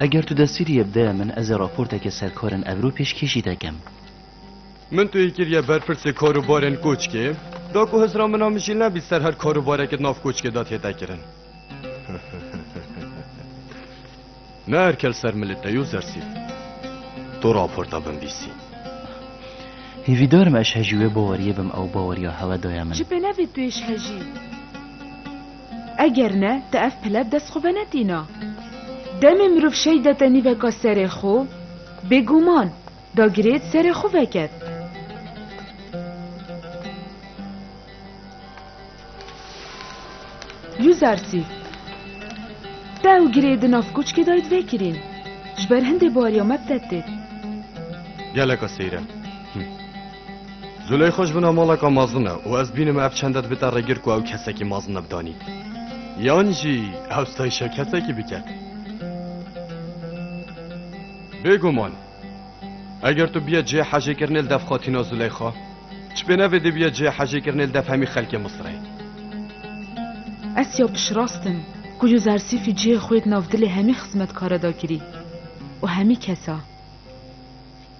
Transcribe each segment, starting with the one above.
Eger tu destîriyê bideye min ez ê raporteke serkarên Evrû pêşkêşî te kem. Min tu yê kiriye ber pirsê karûbarên koçkê, da ku hizra min a min jî nebî ser her karûbareke di nav koçkê de tê dekirin. Ne erkel ser milê te yo zersît. Tu raporta binvîsî. Hêvîdarim eşhejî wê baweriyê bim ew baweriya hewe daye min. Ji pênevê tu êşhejî. Eger ne, ti ev pile bi dest xwe venetîna. Demê mirov şey de tenîveka serê xwe, bêguman, dagirê di serê xwe veket. Yuzarsî. Te ew girê di nav koçkê dayî divekirîn. Ji ber hindê bariya me bi te têt. Geleka seyre. Zuley xwe ji vina maleka mezin e û ez bînim ev çende dibite rêgir ku ew kesekî mezin e bi danî. Yan jî ew stayîşa kesekî bike. Bêguman eger tu bîye cihê hejêkirinê li dev xatîna Zuleyxa, çipêne vê dê bîye cihê hejêkirinê li dev hemî xelkê Misirê. Ez ya piştrast im ku Yuzarsîfî cihê xwe di nav dilê hemî xizmetkara da kirî û hemî kesa.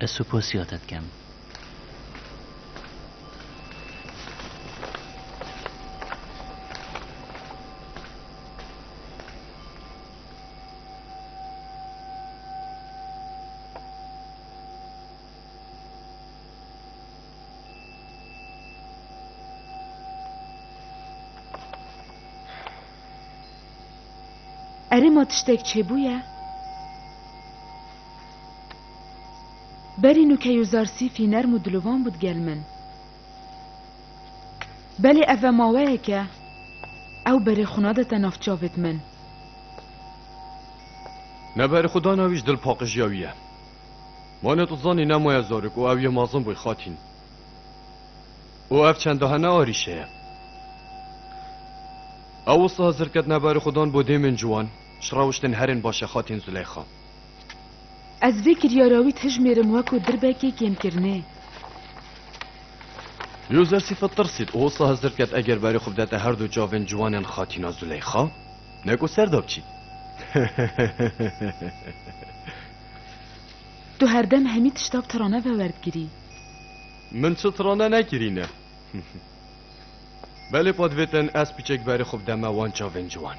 Ez suposiya te dikem. Erê ma tiştek çêbûye? Belê nu key û zar sîfî nerm û dilovan bû digel min. Belê ev ve maweyek e, ew berê xwe nadete nav çavêt min. Ne berê xwe dana wî ji dil paqijiya wî ye. Mane tu zanî ne maye zarok û ew yê mezin bûy xatîn. Û ev çendahe ne arîşe ye. Ew wisa zirket ne berê xwe dan bo dêmên ciwan, ji rewiştên herên baş e xatîn Zileyxa. Ez vê kiryara wî tijmêrim weko dirbekê kêmkirinê. Yûzer sîfet tirsît û wisa hizir ket eger berê xwe bidete her du çavên ciwanên Xatîna Zûleyxa? Ne ku ser da biçî. Tu herdem hemî tişta bi tirane ve werdigirî. Min çi tirane nekirîne. Belê pa divêtin ez piçek berê xwe bideme wan çavên ciwan.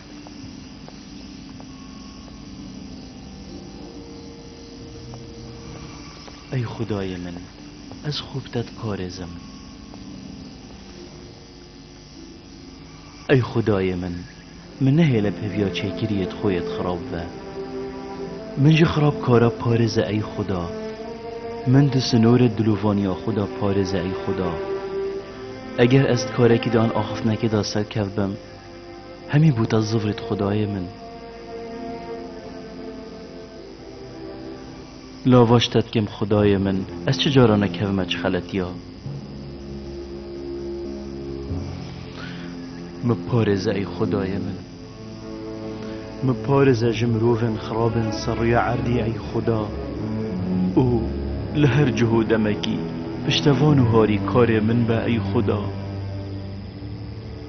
Ey Xwedayê min, ez xwe bi te diparêzim. Ey Xwedayê min, min nehêle peviya çêkiriyê di xwe yê dixirab ve. Min ji xirabkara parêze ey Xweda. Min di sinorê dilovaniya xwe de parêze ey Xweda. Eger ez di karekî de an axiftinekê de serkevbim, Hemî bû te zivrît xudayê min. Lavaş te dikim xudayê min, ez çi caran e kevime çi xeletiya. Min parêze ey xudayê min. Min parêze ji mirovên xirabên ser rûya erdî ey xuda. Û li her cih û demekî piştevan û harîkarê min be ey xuda.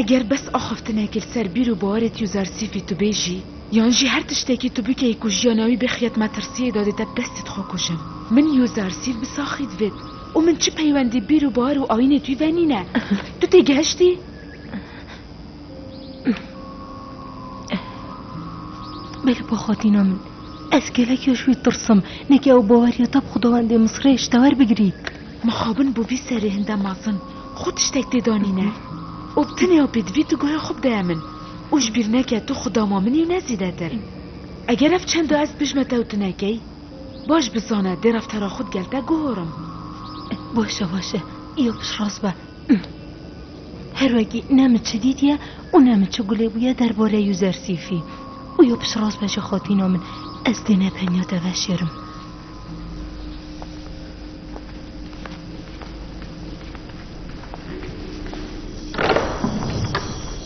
Eger bes axaftinekê li ser bîr û bawerê tî û zarsîfî tu bê jî, yan jî her tiştekî tu bikeyî ku jiyana wî bixî yet metirsiyê de dê te bi destî dixwe kujin. Min yû zarsîf bi saxî divit û min çi peywendî bîr û bawer û ayînê tî ve nîne. Tu têgihiştî? Belê bo xwatîna min. Ez gelek ya ji wî tirsim. Nekî ew baweriya te bi xwedawendê Misirê ji te werbigirî. Mixabin bo vî serê hinde mezin. Xwe tiştek tê danîne. Û bi tenê ew pê divî tu guhê xwe bideye min. Û ji bîr neke tu xwe dama min û ne zîdetir. Eger ev çendo ez dijme te û tu nekey, baş bi zane dê reftara xwe digel te guhorim. Baş e, baş e. Îya piştrast be. Her wekî ne min çi dîtiye û ne min çi gulê bûye derbarê Yuzersîfî. Û yo piştras be ji xatîna min, ez dê ne tenya te veşêrim.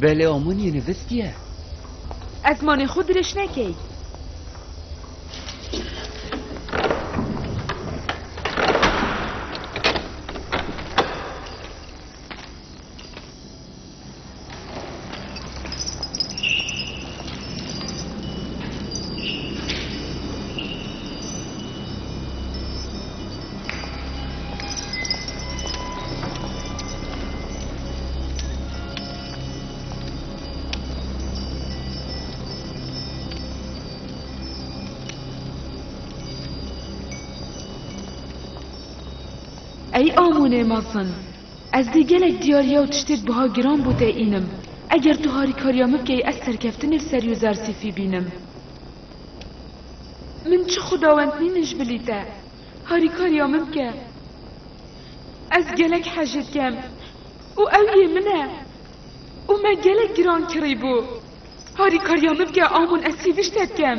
Belê Omon University ye. Ez manê xwe dirêj nekey. Ey Amonê mezin! Ez dê gelek diyariya û tiştêk buha giran bo te înim. Eger tu harîkariya min bikey ez serkeftinê li ser Yûzersîfî bînim. Min çi xwedawend nînin ji bilî te. Harîkariya min bike. Ez gelek hejê dikem û ew yê min e û me gelek giran kirîbû. Harîkariya min bike a min ez sî dişte dikem.